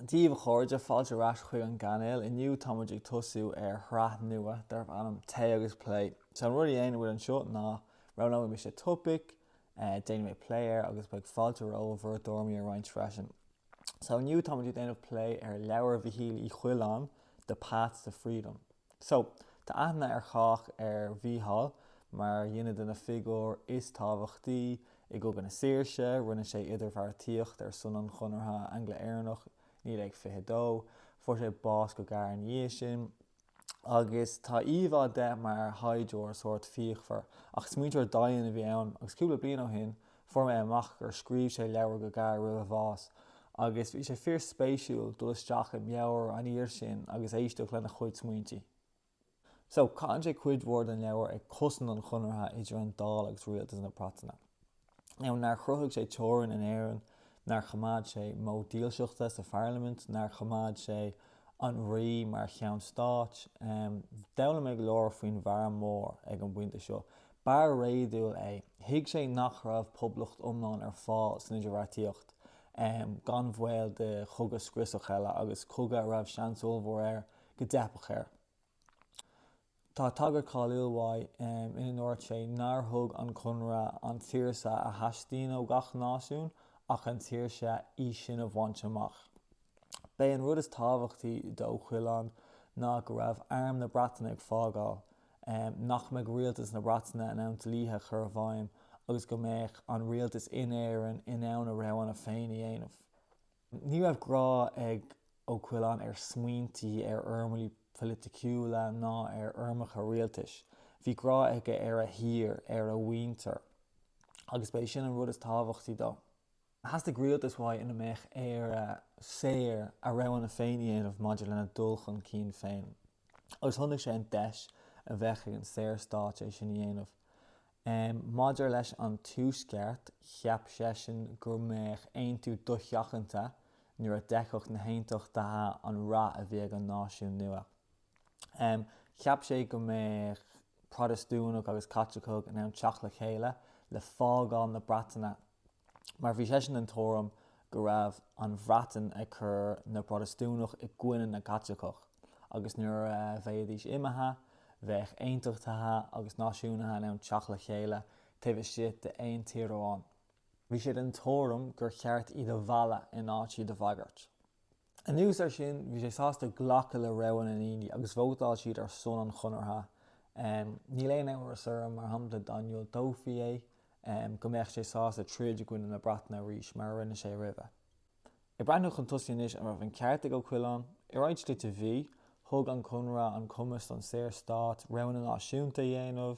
Dia dhaoibh a chairde, fáilte ar ais chuig an gcainéal. Inniu tá muid ag tosú ar shraith nua darb ainm Tae agus Plé. So an rud a dhéanann muid anseo ná, roghnóidh mise topaic, déanfaidh mé plé air agus beidh fáilte romhaibh bhur dtuairimí a roinnt freisin. So inniu tá muid ag déanamh plé ar leabhar Mhichíl Uí Choileáin, The Path to Freedom. So, tá aithne ar chách ar Mhícheál mar dhuine de na figiúir is tábhachtaí I gCogadh na Saoirse, rinne sé idirbheartaíocht ar son an Chonartha Angla-Éireannach 1922. Fuair sé bás go gearr ina dhiaidh sin agus tá íomhá de mar shaighdiúir sórt fíochmhar. Ach smaointeoir domhain a bhí ann agus cúpla bliain ó shin, fuair mé amach gur scríobh sé leabhar go gearr roimh a bhás agus bhí sé fíorspéisiúil dul isteach i meabhair an fhir sin agus éisteacht lena chuid smaointe. So, caitheann sé cuid mhór den leabhar ag cosaint an chonartha idir an Dáil agus rialtas na Breataine. Now, nár chruthaigh sé teorainn in Éirinn, nár choimeád sé móid dílseachta sa pharlaimint, nár choimeád sé an rí mar cheann stáit. D'fhoghlaim mé go leor faoin bhfear mór ag an bpointe seo. B'fhear réadúil é. Thuig sé nach raibh poblacht iomlán ar fáil san idirbheartaíocht, gan bhaol de chogadh scriosach eile, agus cogadh a raibh seans ollmhór air go dteipfeadh air. Tá tagairt cháiliúil uaidh ina ndúirt sé nár thug an Conradh an tsaoirse a theastaíonn ó gach náisiún ach an tsaoirse í sin a bhaint amach. B'é an rud is tábhachtaí d'Ó Coileáin ná go raibh Arm na Breataine ag fágáil, nach mbeadh Rialtas na Breataine in ann dlíthe a chur i bhfeidhm agus go mbeadh an Rialtas in Éirinn in ann a roghanna féin a dhéanamh. Ní raibh grá ag Ó Coileáin ar smaointí, ar fhoirmlí politiciúla ná ar fhoirmeacha rialtais. Bhí grá aige ar a thír, ar a mhuintir. Agus ba é sin an rud is tábhachtaí dó. Theastaigh rialtas uaidh ina mbeadh Éire saor, a roghanna féin a dhéanamh maidir lena dul chun cinn féin. agus chonaic sé an deis a bheadh ag an Saorstát é sin a dhéanamh. Maidir leis an Tuaisceart, cheap seisean go mbeadh aontú dosheachanta nuair a d'fheicfeadh na hAontachtaithe an rath a bhí ag an náisiún nua. Cheap sé go mbeadh Protastúnaigh agus Caitlicigh in ann teacht le chéile le fágáil na Breataine. mar bhí seisean den tuairim go raibh an Bhreatain ag cur na bProtastúnach i gcoinne na gCaitliceach agus nuair a bheidís imithe, bheadh aontachtaithe agus náisiúnaithe in ann teacht le chéile taobh istigh d'aon tír amháin. Bhí sé den tuairim gur cheart iad a mhealladh in áit iad a bhagairt. Anuas air sin, bhí sé sásta glacadh le rogha na ndaoine agus vótáil siad ar son an chonartha. Níl aon amhras orm, mar shampla, dá ndiúltófaí é, go mbeadh sé sásta troid i gcoinne na Breataine arís, mar a rinne sé roimhe. Ag breathnú chun tosaigh anois, an raibh an ceart ag Ó Coileáin? I roinnt slite bhí. Thug an conradh an cumas don Saorstát roghanna náisiúnta a dhéanamh.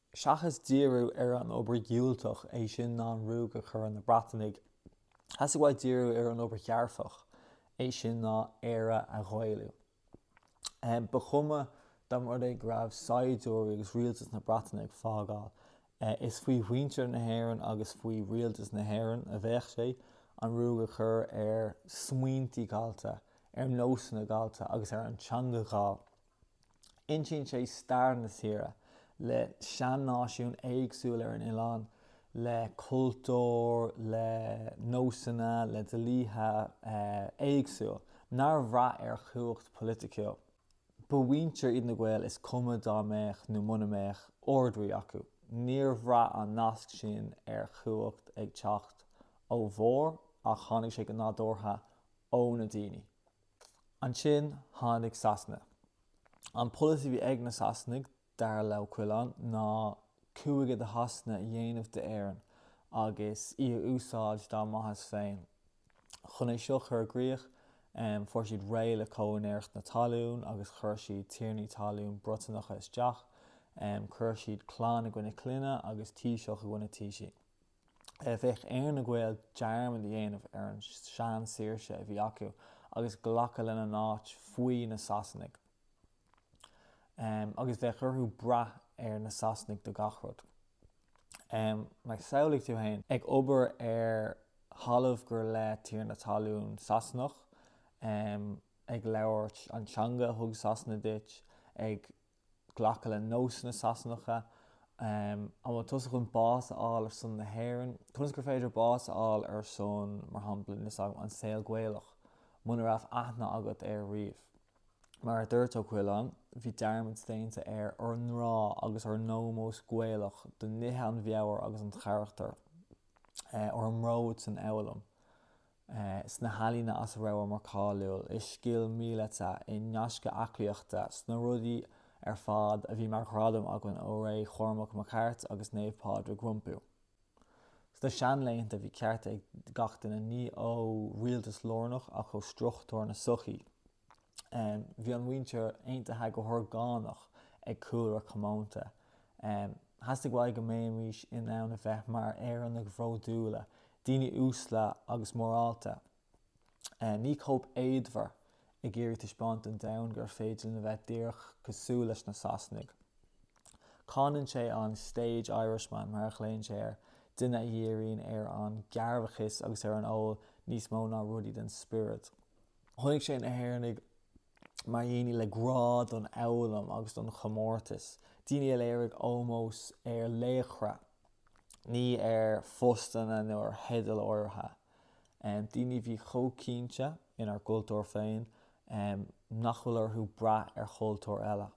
Seachas díriú ar an obair dhiúltach, é sin ná an ruaig a chur ar na Breatanaigh, thosaigh muid ag díriú ar an obair dhearfach, é sin ná Éire a Ghaelú. Ba chuma dá mba rud é go raibh saighdiúirí agus rialtas na Breataine ag fágáil, is faoi mhuintir na hÉireann agus faoi rialtas na hÉireann a bheadh sé an ruaig a chur ar smaointe gallta, ar nósanna gallta agus ar an teanga ghallda. Insíonn sé stair na tíre, le sean-náisiún éagsúil ar an oileán, le cultúr, le nósanna, le dlíthe éagsúil nár bhraith ar chumhacht phoiliticiúil. Ba mhuintir iad na Gaeil is cuma dá mbeadh nó muna mbeadh Ard-Rí acu. Níor bhraith an nasc sin ar chumhacht ag teacht ó bharr ach tháinig sé go nádúrtha ó na daoine. Ansin tháinig Sasana. An polasaí a bhí ag na Sasanaigh, dar le Ó Coileáin, ná cúige de Shasana a dhéanamh d'Éirinn agus í a úsáid dá maitheas féin. Chun é seo a chur i gcrích, fuair siad réidh le comhúinéireacht na talún agus chuir siad tiarnaí talún Briotanacha isteach, chuir siad clann i gcoinne clainne agus taoiseach i gcoinne taoisigh. Bheadh ar na Gaeil dearmad a dhéanamh ar an seansaoirse a bhí acu agus glacadh lena n-áit faoi na Sasanaigh. Agus bheadh orthu brath ar na Sasanaigh do gach rud. Mar samhlaigh tú féin, ag obair ar thalamh gur le tiarna talún Sasanach, ag labhairt an teanga a thug Sasana duit, ag. glacadh le nósanna Sasanacha. An bhfuil tusa chun bás a fháil ar son na hÉireann? Conas gur féidir bás a fháil ar son, mar shampla, nós agam, an saol Gaelach, muna raibh aithne agat air riamh? Mar a dúirt Ó Coileáin, bhí dearmad déanta ar ár ngrá agus ár n-ómós Gaelach do nithe an mheabhair agus an charachtair, ár mbród san fhoghlaim. sna healaíona as a rabhamar cáiliúil, i scil mhíleata, i ngaisce aclaíochta, sna rudaí ar fad a bhí mar ghradam againn ó ré Chormac Mac Airt agus Naomh Pádraig rompu. Sna seanlaethanta bhí cearta ag gach duine, ní ó rialtas lárnach ach ó struchtúir na sochaí. Bhí an mhuintir aontaithe go horgánach ag cúlra comónta. Theastaigh uaidh go mbeimis in ann a bheith mar Éireannaigh bhródúla, daoine uasle agus morálta, ní cóip éadmhar ag iarraidh taispeáint don domhan gur féidir linn a bheith díreach cosúil leis na Sasanaigh. Cáineann sé an stage Irishman, mar a ghlaonn sé air, duine a dhíríonn ar an gcearrbhachas agus ar an ól níos mó ná rudaí den spiorad. Chonaic sé na hÉireannaigh mar dhaoine le grá don fhoghlaim agus don chomórtas, daoine a léirigh ómós ar laochra, ní ar phostanna nó ar theidil áirithe, daoine a bhí chomh cinnte inár gcultúr féin nach bhfuil orthu brath ar chultúr eile.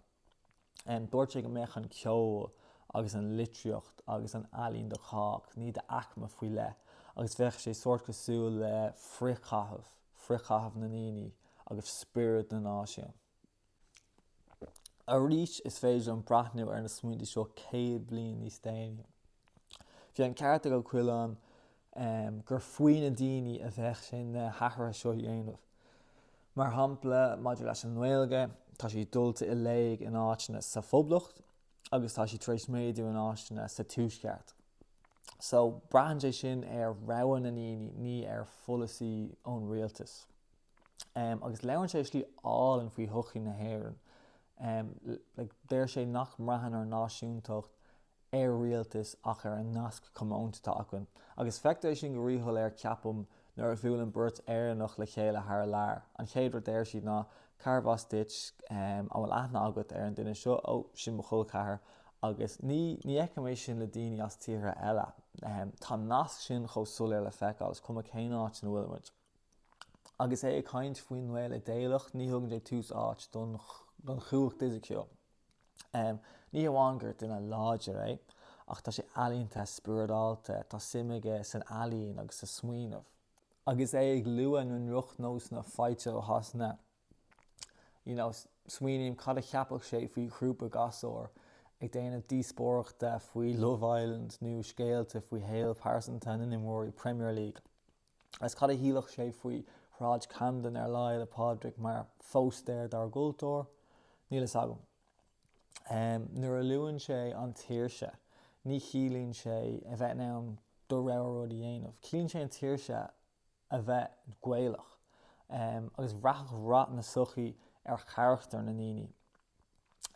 Dúirt sé go mbeadh an ceol agus an litríocht agus an ealaín do chách, ní d'aicme faoi leith, agus bheadh sé sórt cosúil le frithchaitheamh, frithchaitheamh na ndaoine agus spiorad na náisiún. Arís, is féidir linn breathnú ar na smaointe seo céad bliain níos déanaí. Bhí an ceart ag Ó Coileáin gur faoi na daoine a bheadh sé na hathruithe seo a dhéanamh. Mar shampla, maidir leis an nGaeilge, tá sí dulta i léig in áiteanna sa Phoblacht agus tá sí tar éis méadú in áiteanna sa Tuaisceart. So, braitheann sé sin ar rogha na ndaoine, ní ar pholasaí ón rialtas. Agus labhrann sé i slí álainn faoi shochaí na hÉireann. Deir sé nach mbraitheann ár náisiúntacht ar rialtas ach ar an nasc comónta atá acu, agus feictear é sin go ríshoiléir, ceapaim, nuair a bhuaileann beirt Éireannach le chéile thar lear. An chéad rud a deir siad ná, 'Cárbh as duit, an bhfuil aithne agat ar an duine seo? Ó, sin mo chol ceathar. Agus ní, ní fheicim é sin le daoine as tíortha eile. Tá an nasc sin chomh soiléir le feiceáil, is cuma cén áit ina bhfuilimid. Agus é ag caint faoin nGael idéalach, ní thugann sé tús áit don chumhacht fhisiciúil. Ní hamháin gur duine láidir é, ach tá sé ealaíonta, spioradálta, tá suim aige san ealaín agus sa smaoineamh. Agus é ag lua na ndroch-nósanna faighte ó Shasana, you know, smaoiním cad a cheapfadh sé faoi ghrúpa gasúr ag déanamh díospóireachta faoi Love Island nó scéalta faoi shaol pearsanta na n-imreoirí Premier League. Agus cad a shílfeadh sé faoi Shráid Camden ar Lá Fhéile Pádraig mar phóstaer dár gcultúr? Níl fhios agam. Nuair a luann sé an tsaoirse, ní chiallaíonn sé a bheith in ann do rogha rud a dhéanamh. Ciallaíonn sé an tsaoirse a bheith Gaelach. Agus bhraitheadh rath na sochaí ar charachtar na ndaoine.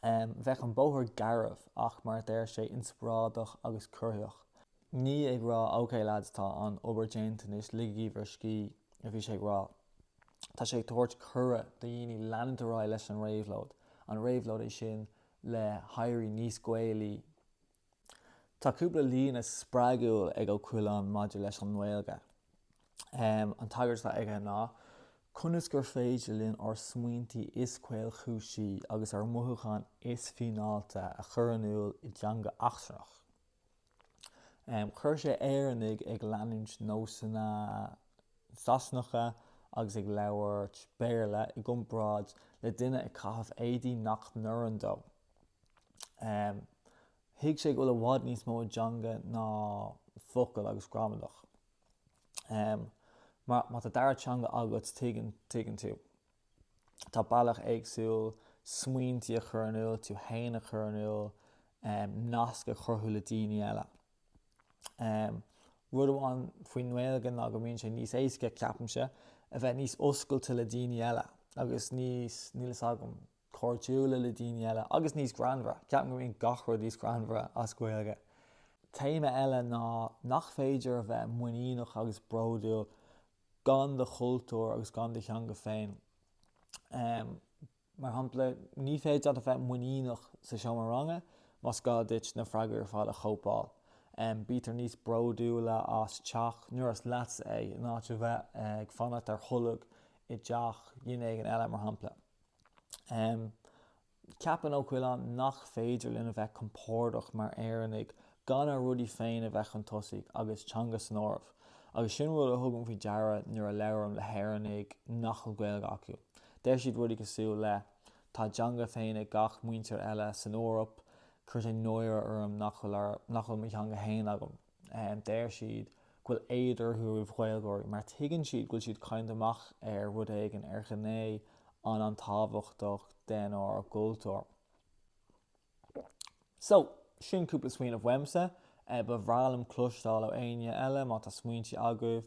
Bheadh an bóthar garbh ach, mar a deir sé, inspioráideach agus corraitheach. Ní ag rá 'ok lads, tá an obair déanta anois, ligigí bhur scíth' a bhí sé ag rá. Tá sé ag tabhairt cuireadh do dhaoine leanúint ar aghaidh leis an réabhlóid, an réabhlóid é sin le héirí níos Gaelaí, Tá cúpla líne spreagúil ag Ó Coileáin maidir leis an nGaeilge. An tagairt atá aige ná, 'Conas gur féidir linn ár smaointe is caolchúisí agus ár mothúcháin is fíneáilte a chur in iúl i dteanga eachtrannach? Chuir sé Éireannaigh ag leanúint nósanna Sasanacha agus ag labhairt Béarla i gcomparáid le duine ag caitheamh éadaí nach n-oireann dó. Thuig sé go bhfuil i bhfad níos mó i dteanga ná focail agus gramadach. Má tá dara teanga agat tuigeann tuigeann tú. Tá bealach éagsúil smaointí a chur in iúl, tú héin a chur in iúl, nasc a chruthú le daoine eile. Rud amháin faoin nGaeilge ná go mbíonn sé níos éasca ceapaimse a bheith níos oscailte le daoine eile agus níos níl fhios agam cairdiúla le daoine eile agus níos greannmhara. Ceapaim go mbíonn gach rud níos greannmhara as Gaeilge. Téama eile nach féidir a bheith muiníneach agus bródúil gan do chultúr agus gan do theanga féin. Mar shampla, ní féidir leat a bheith muiníneach sa seomra ranga más gá duit na freagraí ar fad a chóipeáil. Bítear níos bródúla as teach nuair is leatsa é, in áit a bheith ag fanacht ar tholg i dteach duine éigin eile, mar shampla. Ceapann Ó Coileáin nach féidir linn a bheith compordach mar Éireannaigh gan ár rudaí féin a bheith chun tosaigh, agus teanga san áireamh, agus sin rud a thugaim faoi deara nuair a labhraím le hÉireannaigh nach bhfuil Gaeilge acu. Deir siad rudaí cosúil le Tá a dteanga féin ag gach muintir eile san Eoraip, cuireann sé náire orm nach bhfuil mo theanga fhéin agam. Deir siad go bhfuil éad orthu roimh Ghaeilgeoirí mar tuigeann siad go bhfuil siad ag cailleadh amach ar rud éigin, ar ghné an an-tábhachtach denár gcultúr. So, sin cúpla smaoineamh uaimse. Ba bhreá liom cloisteáil ó éinne eile má tá smaointe agaibh.